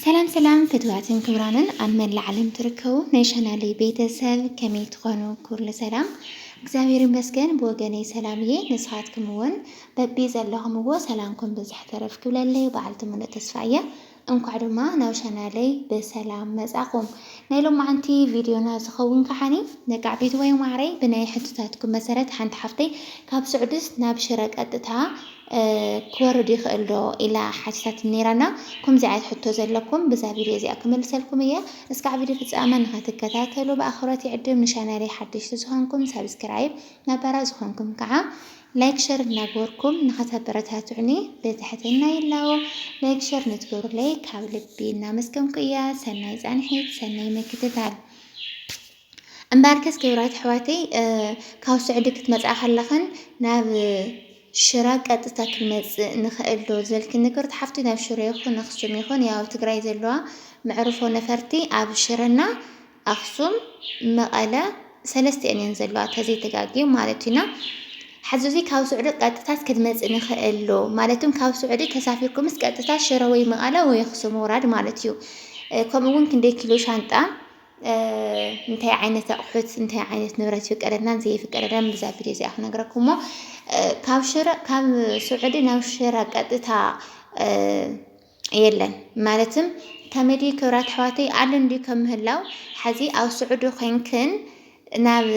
ሰላም ሰላም ፍትዋትን ክብራንን ኣብ መላእ ዓለም ትርከቡ ናይ ቻናለይ ቤተሰብ ከመይ ትኾኑ? ኩሉ ሰላም እግዚኣብሔር ይመስገን ብወገነይ ሰላም እየ። ንስኻትኩም እውን በቢ ዘለኹምዎ ሰላምኩም ብዝሕ ተረፍ ክብለለይ በዓልቲ ሙሉእ ተስፋ እየ። እንኳዕ ድማ ናብ ቻናለይ ብሰላም መጻኹም። ናይ ሎማዓንቲ ቪድዮና ዝኸውን ከዓኒ ነቃዕ ቤት ወይ ማዕረይ ብናይ ሕቶታትኩም መሰረት ሓንቲ ሓፍተይ ካብ ስዑድስ ናብ ሽረ ቀጥታ ክወርድ ይኽእል ዶ ኢላ ሓቲታትኒ ነይራ እና ከምዚ ዓይነት ሕቶ ዘለኩም ብዛ ቪድዮ እዚኣ ክመልሰልኩም እየ እስካዕ ቪድዮ ፍጻመ ንክትከታተሉ ብኣኽብሮት ይዕድም ንሻናለይ ሓደሽቲ ዝኾንኩም ሳብስክራይብ ነባራት ዝኾንኩም ከዓ ላይክ ሸር እናገበርኩም ንክተበረታትዑኒ ብትሕትና ይላዎ ላይክ ሸር ንትገብሩለይ ካብ ልቢ እናመስገንኩ እያ ሰናይ ጻንሒት ሰናይ ምክትታል እምበኣርከስ ክብራት ኣሕዋተይ ካብ ሱዕዲ ክትመጻ ከለኽን ናብ ሽረ ቀጥታ ክንመጽእ ንኽእል ዶ ዝበልክኒ ክብርቲ ሓፍቲ ናብ ሽረ ይኹን ኣኽሱም ይኹን ያው ትግራይ ዘለዋ መዕርፎ ነፈርቲ ኣብ ሽረና ኣኽሱም መቐለ ሰለስቲኤን እየን ዘለዋ ተዘይተጋግየ ማለት እዩና ሕዚ እዙይ ካብ ሱዕዲ ቀጥታት ክንመጽእ ንኽእል ዶ ማለትም ካብ ሱዕዲ ተሳፊርኩምስ ቀጥታ ሽረ ወይ መቐለ ወይ ኣኽሱም ምውራድ ማለት እዩ ከምኡ እውን ክንደይ ኪሎ ሻንጣ እንታይ ዓይነት ኣቑሑት እንታይ ዓይነት ንብረት ይፍቀደልናን ዘይፍቀደልናን ብዛ ቪድዮ እዚኣ ክነግረኩም እሞ ካብ ሽረ ካብ ስዑዲ ናብ ሽረ ቀጥታ የለን ማለትም ከመዲ ክብራት ኣሕዋተይ ኣሎ እንዲ ከም ምህላው ሓዚ ኣብ ስዑዲ ኮንክን ናብ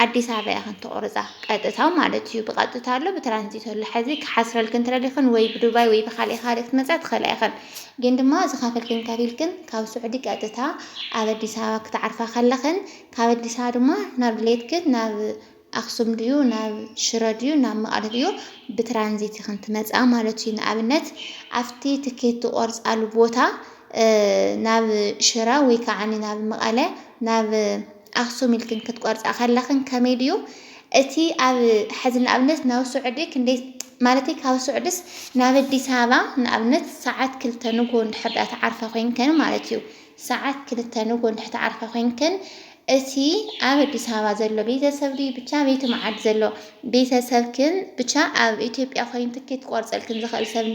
ኣዲስ ኣበባ ኢኽን ትቑርጻ ቀጥታ ማለት እዩ ብቐጥታ ኣሎ ብትራንዚት ኣሎ ሐዚ ክሓስረልክን ትደሊኽን ወይ ብዱባይ ወይ ብኻሊእ ኻሊእ ክትመጻ ትኽእላ ኢኽን ግን ድማ ዝኸፈልክን ከፊልክን ካብ ስዑዲ ቀጥታ ኣብ ኣዲስ ኣበባ ክትዓርፋ ከለኽን ካብ ኣዲስ ኣበባ ድማ ናብ ድሌትክን ናብ ኣክሱም ድዩ ናብ ሽረ ድዩ ናብ መቐለ ድዩ ብትራንዚት ኢኽን ትመጻ ማለት እዩ ንኣብነት ኣብቲ ትኬት ትቖርጻሉ ቦታ ናብ ሽረ ወይ ከዓ ናብ መቐለ ናብ ኣክሱም ኢልክን ክትቆርጻ ከለኽን ከመይ ድዩ እቲ ኣብ ሐዚ ንኣብነት ናብ ሱዕዲ ክንደይ ማለተይ ካብ ሱዕድስ ናብ ኣዲስ ኣበባ ንኣብነት ሰዓት ክልተ ንግሆ እንድሕር ድኣ ትዓርፋ ኮይንክን ማለት እዩ ሰዓት ክልተ ንግሆ እንድሕር ትዓርፋ ኮይንክን እቲ ኣብ ኣዲስ ኣበባ ዘሎ ቤተሰብ ድዩ ብቻ ቤቲ መዓድ ዘሎ ቤተሰብክን ብቻ ኣብ ኢትዮጵያ ኮይኑ ትኬት ክቆርጸልክን ዝኽእል ሰብ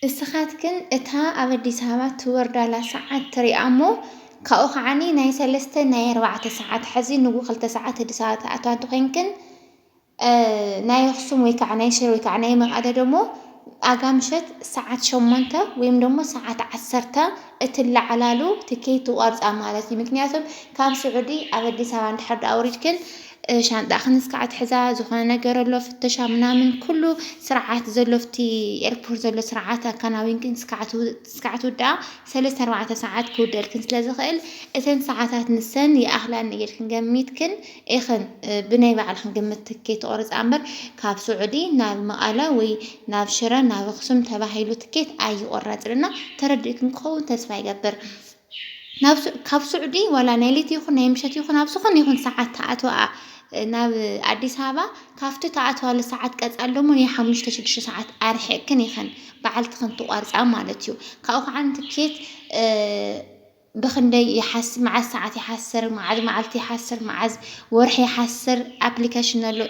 እስኻትክን እታ ኣብ ኣዲስ ኣበባ ትወርዳላ ሰዓት ትሪኣ እሞ ካብኡ ከዓኒ ናይ ሰለስተ ናይ ኣርባዕተ ሰዓት ሐዚ ንጉሆ ክልተ ሰዓት ኣዲስ ኣበባ ትኣትዋ እንተኾይንክን ናይ ኣኽሱም ወይ ከዓ ናይ ሽረ ወይ ከዓ ናይ መቐለ ደሞ ኣጋ ምሸት ሰዓት ሸሞንተ ወይም ደሞ ሰዓት ዓሰርተ እትለዓላሉ ትኬት ትቆርፃ ማለት እዩ። ምክንያቱም ካብ ስዑዲ ኣብ ኣዲስ ኣበባ እንድሕር ደኣ ወሪድክን ሻንጣኽን እስከ ኣትሕዛ ዝኾነ ነገር ኣሎ ፍተሻ ምናምን ኩሉ ስርዓት ዘሎ ኣብቲ ኤርፖርት ዘሎ ስርዓት ኣከናዊንክን እስከ ኣትውድኣ ሰለስተ ኣርባዕተ ሰዓት ክውደልክን ስለ ዝኽእል እተን ሰዓታት ንሰን ይኣኽላኒ ኢልክን ገሚትክን ኢኽን ብናይ ባዕልኽን ግምት ትኬት ትቖርፃ እምበር ካብ ስዑዲ ናብ መቐለ ወይ ናብ ሽረ ናብ ኣኽሱም ተባሂሉ ትኬት ኣይቑረፅን እና ተረዲእክን ክኸውን ተስፋ ይገብር። ናብ ካብ ሱዕዲ ዋላ ናይ ለይቲ ይኹን ናይ ምሸት ይኹን ኣብ ዝኾነ ይኹን ሰዓት ትኣትዋኣ ናብ ኣዲስ ኣበባ ካብቲ ትኣትዋሉ ሰዓት ቀጻሊ ደሞ ናይ ሓሙሽተ ሽዱሽተ ሰዓት ኣርሒቕክን ኢኽን በዓልትኽን ትቖርጻ ማለት እዩ። ካብኡ ከዓ ትኬት ብኽንደይ ይሓስብ መዓዝ ሰዓት ይሓስር መዓዝ መዓልቲ ይሓስር መዓዝ ወርሒ ይሓስር ኣፕሊኬሽን ኣሎ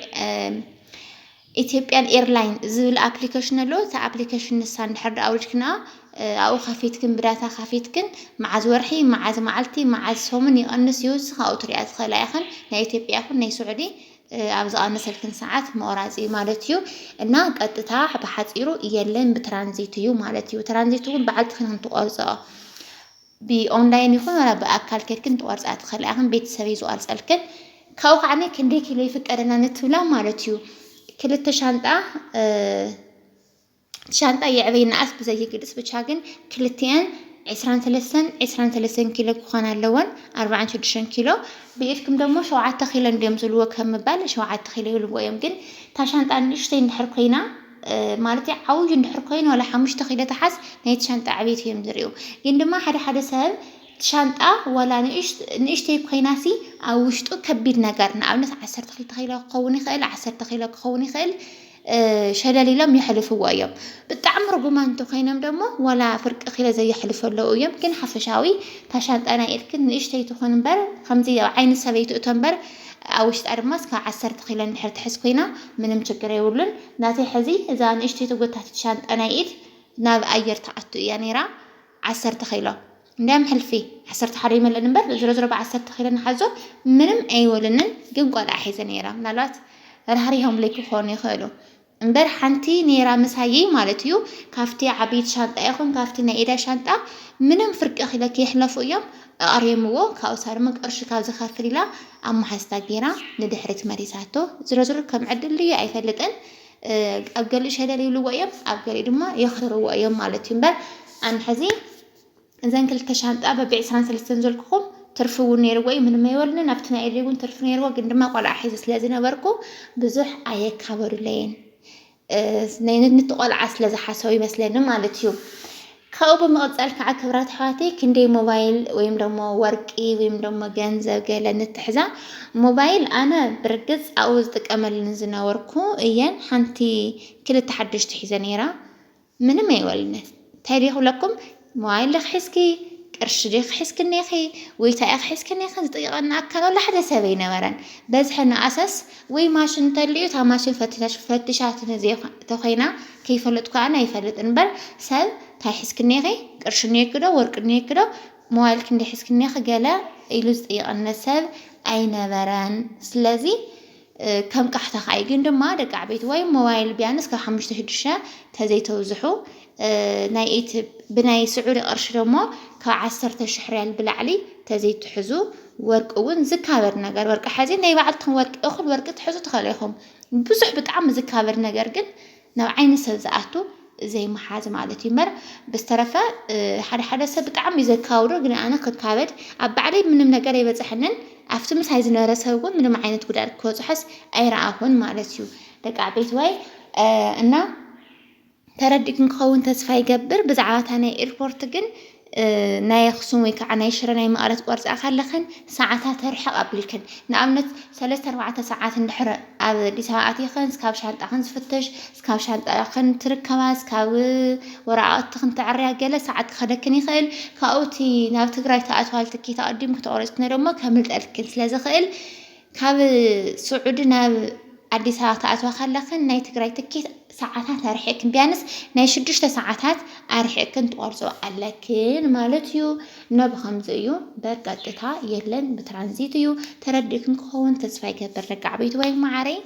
Ethiopian Airline ዝብል ኣፕሊከሽን ኣሎ እታ ኣፕሊከሽን ንሳ እንድሕር ድኣ ኣውሪድክንኣ ኣብኡ ከፊትክን ብዳታ ከፊትክን መዓዝ ወርሒ መዓዝ መዓልቲ መዓዝ ሰሙን ይቐንስ ይውስኽ ኣብኡ ትሪኣ ትኽእላ ኢኽን ናይ ኢትዮጵያ ይኹን ናይ ስዑዲ ኣብ ዝቐንሰልክን ሰዓት መቑራፅ እዩ ማለት እዩ እና ቀጥታ ብሓፂሩ የለን ብትራንዚት እዩ ማለት እዩ ትራንዚት እውን በዓልትኽን እንትቆርፅኦ ብኦንላይን ይኹን ዋላ ብኣካል ኬድክን ትቆርጻ ትኽእላ ኢኽን ቤተሰብ እዩ ዝቆርጸልክን ካብኡ ከዓኒ ክንደይ ኪሎ ይፍቀደና ንትብላ ማለት እዩ ክልተ ሻንጣ ሻንጣ የዕበይ ንኣስ ብዘይግልጽ ብቻ ግን ክልቲኣን ዕስራን ሰለስተን ዕስራን ሰለስተን ኪሎ ክኾና ኣለወን ኣርባዓን ሽዱሽተን ኪሎ ብኢድኩም ደሞ ሸውዓተ ኪሎ እንድዮም ዝብልዎ ከም ምባል ሸውዓተ ኪሎ ይብልዎ እዮም ግን እታ ሻንጣ ንእሽተይ እንድሕር ኮይና ማለት ዓብዩ እንድሕር ኮይኑ ዋላ ሓሙሽተ ኪሎ ተሓዝ ናይቲ ሻንጣ ዕቤት እዮም ዝሪኡ ግን ድማ ሓደ ሓደ ሰብ ሻንጣ ዋላ ንእሽተይ ኮይናሲ ኣብ ውሽጡ ከቢድ ነገር ንኣብነት ዓሰርተ ክልተ ኪሎ ክኸውን ይኽእል ዓሰርተ ኪሎ ክኸውን ይኽእል ሸለል ኢሎም የሕልፍዎ እዮም ብጣዕሚ ርጉማን እንተኮይኖም ደሞ ዋላ ፍርቂ ኪሎ ዘየሕልፉ ኣለዉ እዮም ግን ሓፈሻዊ እታ ሻንጣ ናይ ኢድክን ንእሽተይ ትኹን እምበር ከምዚ ኣብ ዓይኒ ሰብ ኣይትእቶ እምበር ኣብ ውሽጣ ድማ እስካብ ዓሰርተ ኪሎ እንድሕር ትሕዝ ኮይና ምንም ችግር የብሉን። ናተይ ሕዚ እዛ ንእሽተይ ተጎታቲት ሻንጣ ናይ ኢድ ናብ ኣየር ትኣቱ እያ ነይራ ዓሰርተ ኪሎ እንድያም ሕልፊ ዓሰርተ ሓደ ይመልእን እምበር ዝሮዝሮ ብዓሰርተ ኪሎ ንሓዞ ምንም ኣይበሉንን ግን ቆልዓ ሒዘ ነይራ ምናልባት ራህሪሆምለይ ክኾኑ ይኽእሉ። እምበር ሓንቲ ኔራ ምሳይይ ማለት እዩ ካብቲ ዓብይቲ ሻንጣ ይኹን ካብቲ ናይ ኢዳ ሻንጣ ምንም ፍርቂ ክለ ክይሕለፉ እዮም ኣቅርየምዎ ካብኡ ንሳ ድማ ቅርሺ ካብ ዝከፍል ኢላ ኣብ ማሓዝታ ጌራ ንድሕሪት መሊሳቶ ዝሮዝሮ ከም ዕድል ድዩ ኣይፈልጥን ኣብ ገሊኡ ሸለል ይብልዎ እዮም ኣብ ገሊኡ ድማ የክርርዎ እዮም ማለት እዩ እምበር ኣንሕዚ እዘን ክልተ ሻንጣ በቢ ዕስራን ሰለስተን ዘልኩኹም ትርፊ እውን ነይርዎ እዩ ምንም ኣይበሉንን ኣብቲ ናይ ኤልሪ እውን ትርፊ ነይርዎ ግን ድማ ቆልዓ ሒዘ ስለ ዝነበርኩ ብዙሕ ኣየካበሩለይን ነቲ ቆልዓ ስለ ዝሓሰቡ ይመስለኒ ማለት እዩ ካብኡ ብምቕፃል ከዓ ክብራት ኣሕዋተይ ክንደይ ሞባይል ወይም ደሞ ወርቂ ወይም ደሞ ገንዘብ ገለ ንትሕዛ ሞባይል ኣነ ብርግፅ ኣብኡ ዝጥቀመልን ዝነበርኩ እየን ሓንቲ ክልተ ሓደሽቲ ሒዘ ነይራ ምንም ኣይበሉኒ ታይ ድየ ክብለኩም ሞባይል ዲኺ ሒዝኪ ቅርሺ ዲኺ ሒዝኪ እኔኺ ወይ ታይ ኢኺ ሒዝኪ እኔኺ ዝጥይቐኒ ኣካል ዋላ ሓደ ሰብ ኣይነበረን በዝሐ ንኣሰስ ወይ ማሽን እንተልዩ እታ ማሽን ፈትሽ ፈትሻትኒ ዘይ ተኾይና ከይፈለጥኩ ኣነ ኣይፈልጥን እምበር ሰብ ታይ ሒዝኪ እኔኺ ቅርሺ እኔኪ ዶ ወርቂ እኔኪ ዶ ሞባይል ክንደይ ሒዝኪ እኔኺ ገለ ኢሉ ዝጥይቐኒ ሰብ ኣይነበረን ስለዚ ከም ቃሕታ ካይ ግን ድማ ደቂ ዓበይቲ ወይ ሞባይል ቢያንስ ካብ ሓሙሽተ ሽዱሽተ ተዘይተብዝሑ ናይ ኢት ብናይ ስዑዲ ቅርሺ ደሞ ካብ ዓሰርተ ሽሕ ሪያል ብላዕሊ ተዘይትሕዙ ወርቂ እውን ዝካበድ ነገር ወርቂ ሓዚ ናይ ባዕልትኹም ወርቂ እኹል ወርቂ ትሕዙ ትኸእሉ ኢኹም ብዙሕ ብጣዕሚ ዝካበድ ነገር ግን ናብ ዓይኒ ሰብ ዝኣቱ ዘይምሓዝ ማለት እዩ እምበር ብዝተረፈ ሓደ ሓደ ሰብ ብጣዕሚ እዩ ዘካብዶ ግን ኣነ ክካበድ ኣብ ባዕለይ ምንም ነገር ኣይበፅሐንን ኣብቲ ምሳይ ዝነበረ ሰብ እውን ምንም ዓይነት ጉድኣት ክበፅሖስ ኣይረኣኹን ማለት እዩ ደቂ ዓበይቲ ወይ እና ተረዲእኩም ክኸውን ተስፋ ይገብር ብዛዕባ እታ ናይ ኤርፖርት ግን ናይ ኣኽሱም ወይ ከዓ ናይ ሽረ ናይ መቐለ ትቖርፃ ከለኽን ሰዓታ ትርሕቕ ኣቢልክን ንኣብነት ሰለስተ ኣርባዕተ ሰዓት እንድሕር ኣብ ኣዲስ ኣበባ ኣቲኽን እስካብ ሻንጣኽን ዝፍተሽ እስካብ ሻንጣኽን ትርከባ እስካብ ወረቓቕትኽን ተዕርያ ገለ ሰዓት ክኸደክን ይኽእል ካብኡ እቲ ናብ ትግራይ ትኣትዋሉ ትኬት ኣቐዲምክ ተቖሪፅክን ደሞ ከምልጠልክን ስለዝኽእል ካብ ስዑዲ ናብ ኣዲስ ኣበባ ክኣትዋ ከለክን ናይ ትግራይ ትኬት ሰዓታት ኣርሒቅክን ቢያንስ ናይ ሽዱሽተ ሰዓታት ኣርሒቅክን ትቆርፆ ኣለክን ማለት እዩ እና ብከምዚ እዩ በቀጥታ የለን ብትራንዚት እዩ ተረዲእክን ክኸውን ተስፋ ይገብር ደቂ ዓበይቲ ወይ ማዓረይ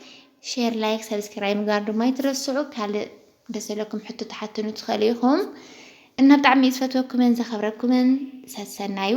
ሼር ላይክ ሰብስክራይብ ምግባር ድማ ይትረስዑ ካልእ ደሰለኩም ሕቶ ተሓትኑ ትኸእሉ ኢኹም እና ብጣዕሚ ዝፈትወኩምን ዘኸብረኩምን ሰሰናዩ